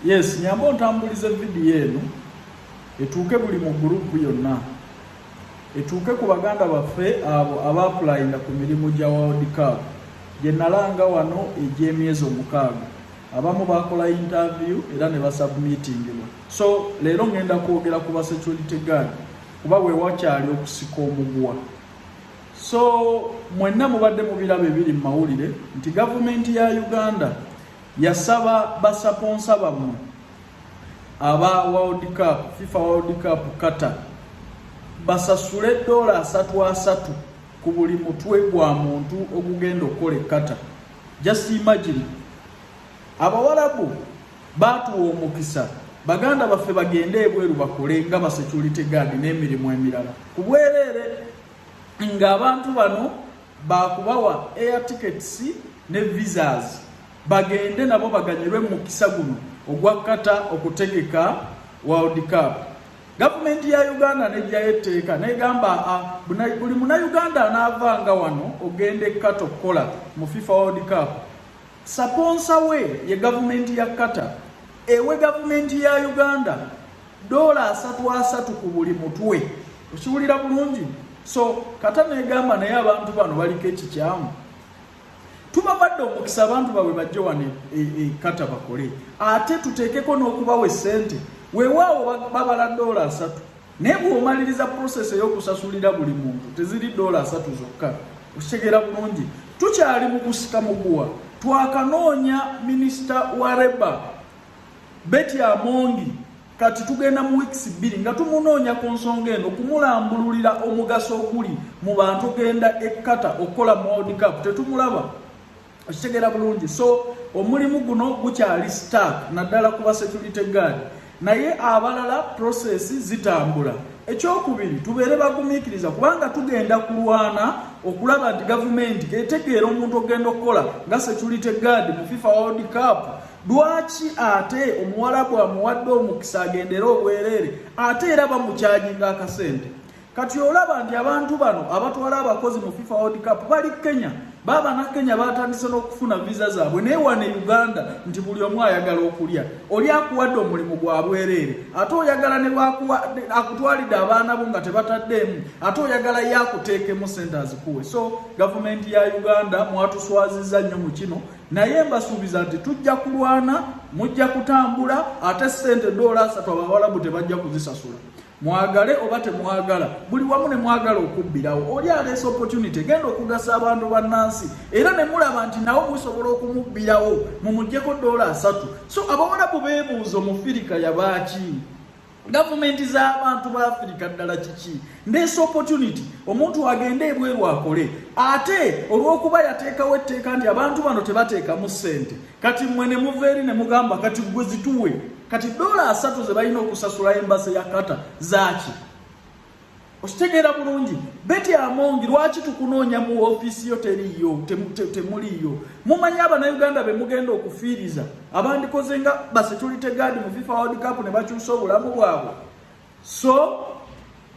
Yes, nyamba ontambulize video eno etuuke buli mu gurupu yonna etuuke ku baganda baffe abo abaapulayinga ku mirimu gya world cup gye nalanga wano egy'emyezi omukaaga abamu bakola interview era ne basubmitingibwa so leero ngenda kwogera ku ba security guard kuba we wakyali okusika omuguwa so mwenna mubadde mubiraba ebiri mu mawulire nti gavumenti ya uganda Yasaba basaponsa bammwe aba World Cup, FIFA World Cup Qatar basasule ddoola asatu asatu ku buli mutwe gwa muntu ogugenda okukola ekkata just imagine abawalabu baatuwa omukisa baganda baffe bagende ebweru bakole nga basecurity guard n'emirimu emirala ku bwereere ng'abantu bano baakubawa air tickets ne visas bagende nabo baganyirwe mu mukisa guno ogwa kata okutegeka world cup gavumenti ya uganda nejjayo etteeka negamba ah, buli munauganda anaavanga wano ogenda ekkata okukola mu fifa world cup Saponsa we ye gavumenti ya Qatar ewe gavumenti ya Uganda doola asatu asatu ku buli mutwe okiwulira bulungi so kata negamba naye abantu bano baliko ekikyamu tubabadde omukisa abantu babwe bajje wano e, e, e, kata bakole ate tuteekeko n'okubawa esente weewaawo babala doola asatu naye bw'omaliriza process ey'okusasulira buli muntu teziri doola asatu zokka okitegeera bulungi tukyali mu kusika muguwa twakanoonya minisita wa reba beti amongi kati tugenda mu weeks bbiri nga tumunoonya ku nsonga eno kumulambululira omugaso oguli mu bantu genda ekkata okukola world cup tetumulaba okitegera bulungi so omulimu guno gukyali stark naddala kuba security guard naye abalala process zitambula ekyokubiri tubeere bagumiikiriza kubanga tugenda kulwana okulaba nti gavumenti etegeera omuntu ogenda okukola nga security guard mu fifa world cup lwaki ate omuwalabu amuwadde omukisa agendere obwereere ate era bamukyajinga akasente kati olaba nti abantu bano abatwala abakozi mu fifa world cup bali kenya baaba na kenya batandise n'okufuna viza zaabwe naye wano e uganda nti buli omu ayagala okulya oli akuwadde omulimu gwa bwereere ate oyagala ne akutwalidde abaana bo nga tebataddeemu ate oyagala ye akuteekemu sente azikuwe so gavumenti ya uganda mwatuswaziza nnyo mu kino naye mbasuubiza nti tujja kulwana mujja kutambula ate sente doola asatu abawalabu tebajja kuzisasula mwagale oba temwagala buli wamu ne mwagala okubbirawo oli aleesa opportunity genda okugasa abantu bannansi era ne mulaba nti nawe musobola okumubbirawo mumugyeko doola asatu so abawalabu beebuuza omufirika yabaaki gavumenti z'abantu ba afirika ddala kiki ndeesa opportunity omuntu agende ebweru akole ate olw'okuba yateekawo etteeka nti abantu bano tebateekamu ssente kati mmwe ne muva eri ne mugamba kati gwe zituwe kati dola asatu ze balina okusasula embase ya kata zaaki okitegeera bulungi beti amongi lwaki tukunoonya mu ofiisi yo teriiyo temuliiyo mumanyi abanauganda be mugenda okufiiriza abandikoze nga basitulite gaadi mu fifa world cup ne bakyusa obulamu bwabwe so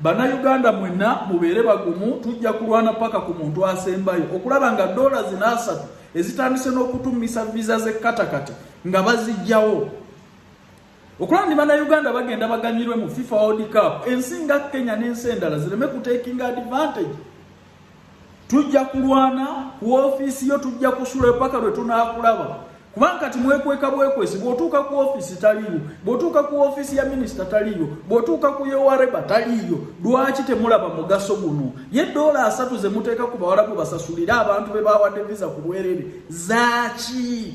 bannayuganda mwenna mubeere bagumu tujja kulwana paka ku muntu asembayo okulaba nga doola zina asatu ezitandise n'okutumisa viza z'ekkatakati nga bazijjawo okulaba ndi bannayuganda bagenda baganyirwe mu fifa world cup ensi nga kenya n'ensi endala zireme kutekinga advantage tujja kulwana ku ofiisi yo tujja kusula paka lwe tunaakulaba kubanga kati mwekweka bwekwesi bw'otuuka ku ofiisi taliiyo bw'otuuka ku ofiisi ya minisita taliiyo bw'otuuka ku yowareba taliiyo lwaki temulaba mugaso guno ye doola asatu ze muteeka ku bawala gwe basasulire abantu be bawadde viza ku bwerere zaaki